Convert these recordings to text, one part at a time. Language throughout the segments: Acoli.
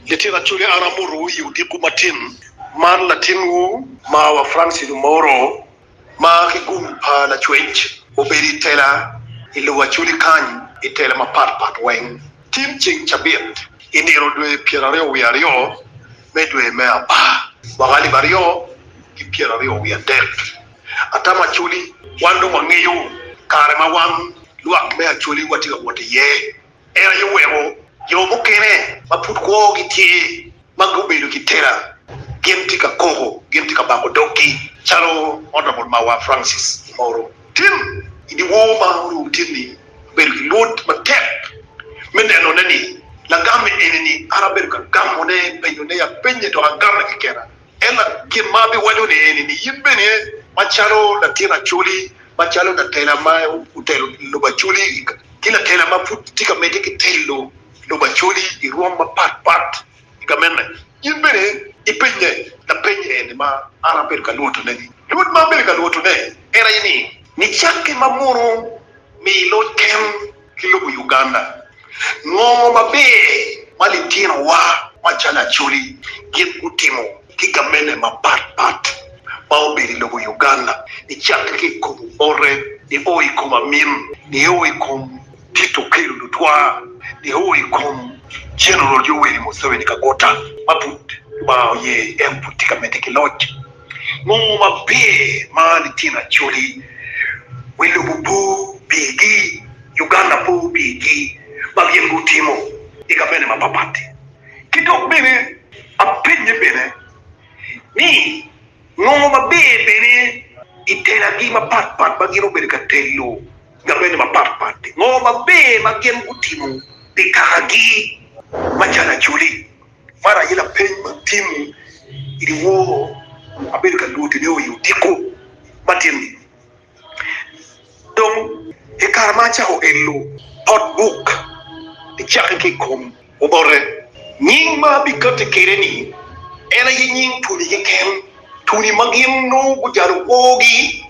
Litino Acholi an amotowu i odiko matin man latinwu marwa Francis Omoro ma ki gum pa lacwec obedo i tela i lobo Acholi kany i tela mapat pat weng tin ceng cabit i nino dwe pyera aryo wiye aryo me dwe me apar mwaka alip aryo ki pyera aryo wiye adek atamo Acholi wan dong wangeyo kare ma wan lwak me Acholi watye ka wot iye. En aye oweko jo mukene ma pud kwogi tye ma gubedo ki tela gin tye ka koko, gin tye ka bako doggi, calo Honourable Mawar Francis Imoro. Tim i dyewor ma orumo tyenni, abedo ki luot matek me nenone ni lagam enini an abedo ka gamone, penyone apenye dok agame kekena. Ella, gin ma abiwaco ni eni ni in bene macalo latin acoli, macalo latela ma otelo lobo acoli ki latela ma pud tye ka medde ki telo lobo acoli i rwom mapat pat i gamene, in bene ipenye lapeny eni ma an abedo ka lwotoneni. Lwot ma abedo ka lwotone en aye ni, Nicaki ma mono mi iloc ken. ki lobo Uganda, ngongo maber ma litinowa macalo Acholi gin gutimo ki gamente mapat pat ma obedo i lobo Uganda nicakke ki i kom obote, nio i kom amin, nio i kom Tito Okello Lutwaa, nio i kom General Yoweri Museveni Kagota ma pud Lubanga oye en pud tye ka medde ki loc. Nongo maber ma litino Acholi wi lobo po pigi, Uganda po pigi ma gin gutimo i gabene mapapat-ti. Ki dok bene apenye bene ni nongo maber bene i telagi mapat pat ma gin obedo ka telo gabene mapat pat-ti? Ngo maber ma gin gutimo pi kakagi macalo Acholi? Man aye lapeny ma Tim iwor abedo ka lwoti ni oyo odiko matin ni dong i kare ma acako elo pot buk icake ki i kom obote. Nying ma abikati kwede ni en aye nying tuni keken, tuni ma gin nongo gujalo kwogi.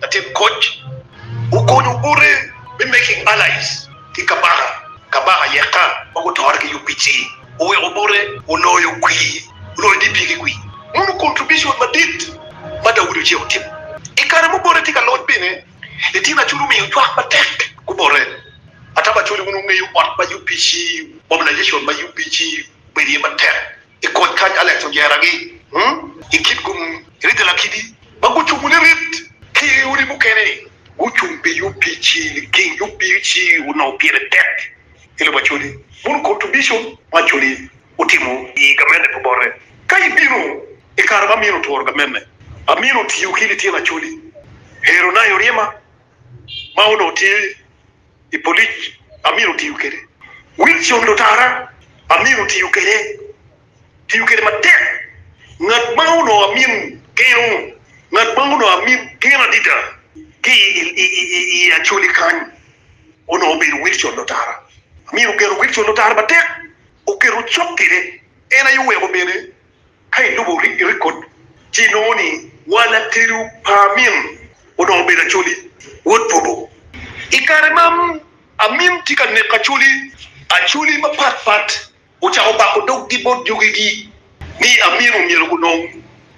Latit koc okonyo bote me making allies ki kabaka kabaka yekka ma gutore ki UPC oweko bote oloyo kwir oloyo DP ki kwir. Mono contribution madit ma Daudi Ocek otimo. I kare ma obote tye ka loc bene Latin Acoli omiyo cwak matek gubote. Ataba Acoli wun wungeyo ot ma UPC, mobilization ma UPC obedo iye matek i koc kac Alex ojeragi i kit gun rite lakidi ma gucubu lirit ki i odi mukene ni gucung pi yub pici liking yub pici onongo pire tek i lobo Acholi bot contribution ma Acholi otimo i gamente pi bote ka i bino i kare ma Amina oturo gamente Amina otiyo ki lityen Acholi Hero Nayo Ryema ma onongo tye i polic amyero tiyo kwede, Wilson lutara amyero tiyo kwede, tiyo kwede matek, ngat ma onongo amin keno, ngat ma onongo amin keno adida ki i Acholi kany onongo obedo Wilson lutara, amyero ogeno Wilson lutara matek, oketo cok kwede, en aye oweko bene. Ka ilubo rekod, ci inongo ni wa latedo pa Amin onongo obedo Acholi, wod Bobo. I kare ma Amin tye ka neko Acholi, Acholi mapatpat ocako bako doggi bot jogegi ni Amin omyero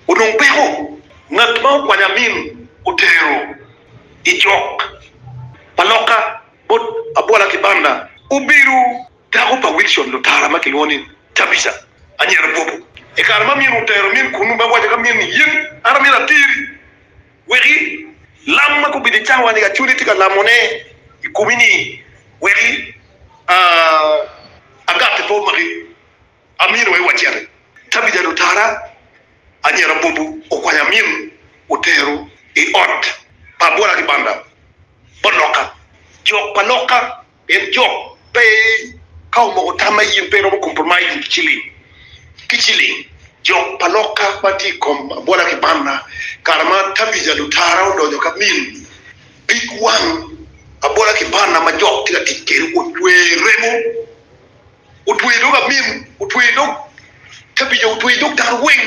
onong peko. Ngat ma okwanyo Amin otero i jok pa loka bot Abwala ki Banda obedo. Dako pa Wilson Lutara ma kilwongo ni Tabitha anyira Bobo. I kare ma min otero min kunnu me waco ka min ni, In, an amito ateri wek i lam ma gubedo i cawa ni Acoli tye ka lamone i komi ni wek i agati pe omaki, amino aye waciti. Tabitha Lutara anyira Bobo okwanyo amin otero i ot pa abola ki banda bot loka. Jok pa loka. Pien jo pe ka omoko tam ma in pe iromo compromise with ciling ki ciling. Jo pa lokka ma tye i kom abwola ki banna, kare ma Tabija lutara odonyo ka min pig wang abwola ki banna ma jok tye ka tic kwede otweyo i remo, otweyo dog amin, otweyo dog Tabija, otweyo dog dano weng.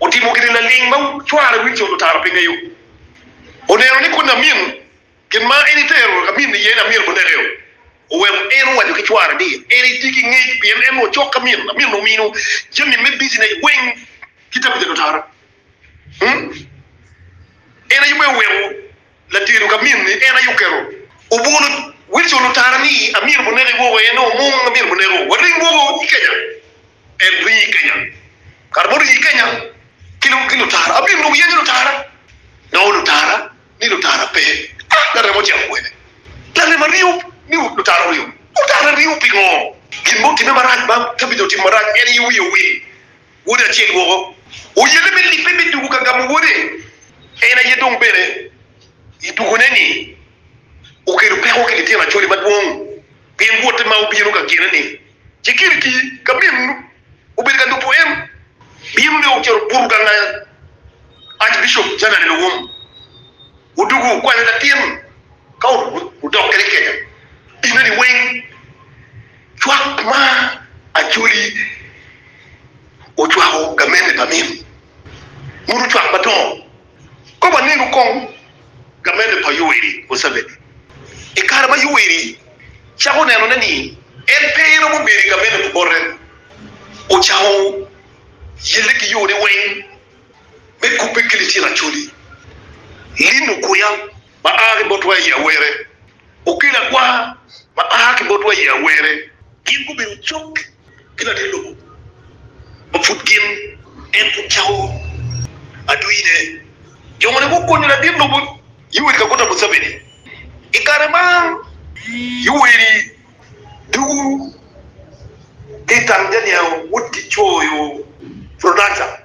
otimo gin laling ma cware winyi codo tara pe ngeyo. Oneno ni kuni amin gin ma en itero amin iye ni amin-nu onekeo, oweko en owaco ki cware ni en etye ki ngec pien en onongo cok ki amin. Amin-nu omino jami me bijinec weng ki tabu codo tara. En aye bene oweko Latedo ka minni en aye oketo obwolo Wilson otara ni amyero bu neke woko en o mung amyero bu neko waling woko i kenya en ringo i kenya kare muringo i kenya ki lutara abino dong yenyo lutara nongo lutara ni lutara pe ah laremo ocito kwede larem aringo ni lutara oringo lutara ringo pingo gin mo otime marac ma tabitha otimo marac en aye wiye owil. Wode acel woko oyelle me libbe me tugo ka gamo wode. En aye dong bene i tugone-ni okelo peko ki litino acode madwong pien wote ma obino ka gine-ni ci kiri ki ka min obedo ka lubo en. Bino dong ocito obuto gang aya. Archbishop Janani Luwum odwogo okwanyo latin ka odok kwede i kenya dineni weng. Cwak ma Acholi ocwako gamente pa min muto cwak madongo kop anenu kong gamente pa Yoweri Museveni i kare ma Yoweri cako nenone ni en pe romo bedo i gamente pi bote ocako yelle ki yone weng me kubbe ki litino Acholi lino kuya ma a ki bot waya i Awere Okelo agwar ma a ki botwa i awere. Gin gubedo cok ki latin lobo ma pud gin, en pud cawo adwine. Jo moni gukonyo latin lobo Yoweri Kaguta Museveni i kare ma Yoweri dugu ki i tang janiango wutgi coyo Prodaca.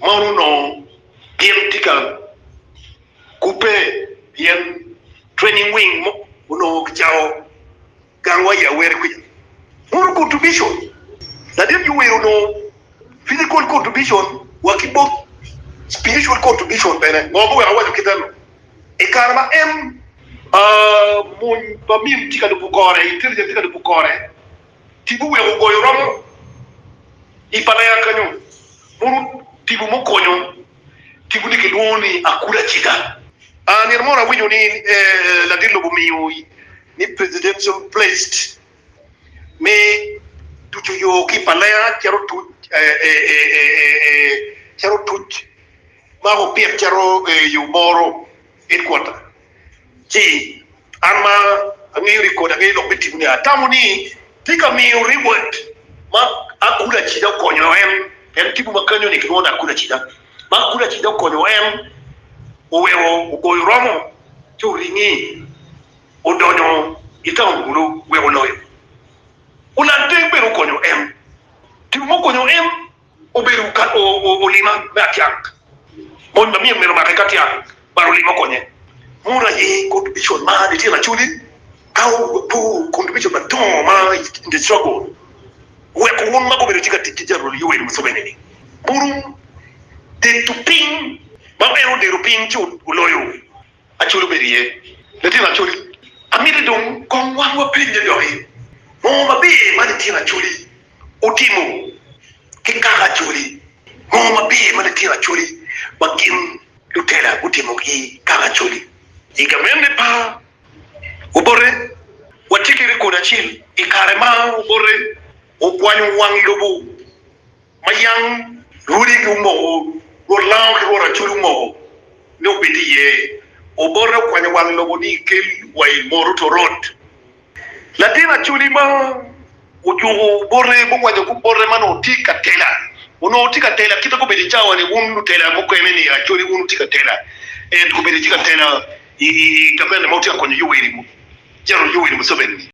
Mon onongo gin tye ka kubbe pien training wing mo onongo kicato gang wa i Aweri kwica. Motor contribution, Ladit Yoweri onongo physical contribution wa ki both spiritual contribution bene. Ngo ma weko awaco kite ni? I kare ma en mony pa Mim tye ka lubo kore, intelligent tye ka lubo kore, Ti guweko ogoyo romo i Palea kenyo, moruto tipo mukonyo tipo ni kilwongo ni Akula Ciga. Nino moro awinyo ni ladit lobo omiyo ni presidential placed me tuco yo ki i Palea cito tuc ma opit cito yo moro. It kwota, ci an ma angeyo ni kodi angeyo lok me timmi ni atamo ni tika miyo Reward ma akuli acida okonyo en, pien tipo ma kanyo ni kilwongo ni akuli acida, ma akuli acida okonyo en oweko ogoyo romo ci oringi odonyo i taun kulu wek oloyo. Olandeng bene okonyo en, tipo mukonyo en obedo ka olima me atyak. Mony ma myero omake ka tyak balo olima okonye. Mono aye kor dibicon ma nitye lacodi ka opo kom dibicon madongo ma i nge cogo weko wun ma gubedo tye ka tic ki Jenerol Yoweri Museveni-ni bulu deto piny ma en odeto piny ci oloyo Acoli obedo iye. Litino Acoli, amito dong kong wan wapenye doki ngo maber ma litino Acoli. Otimo ki kaka Acholi. Ngo ma pire ma litino Acholi ma gin lutela gutimo ki kaka Acholi? I gamente pa Obote, watye ki rekod acel i kare ma Obote okwanyo wang lobo ma yam Lwodigi omoko, Rwot Lango ki Rwot Acholi omoko ni obed iye. Obote okwanyo wang lobo ni kel wa i Moroto Road. Latin Acholi ma ojuko bote mukwanyo kub bote ma onongo tye ka tela, onongo tye ka tela kite gubedo i cawa-ni. Wun lutela mukene-ni, Acholi, wun wutye ka tela, en gubedo tye ka tela i kaverne ma wutye ka konyo Yoweri Museveni-ni.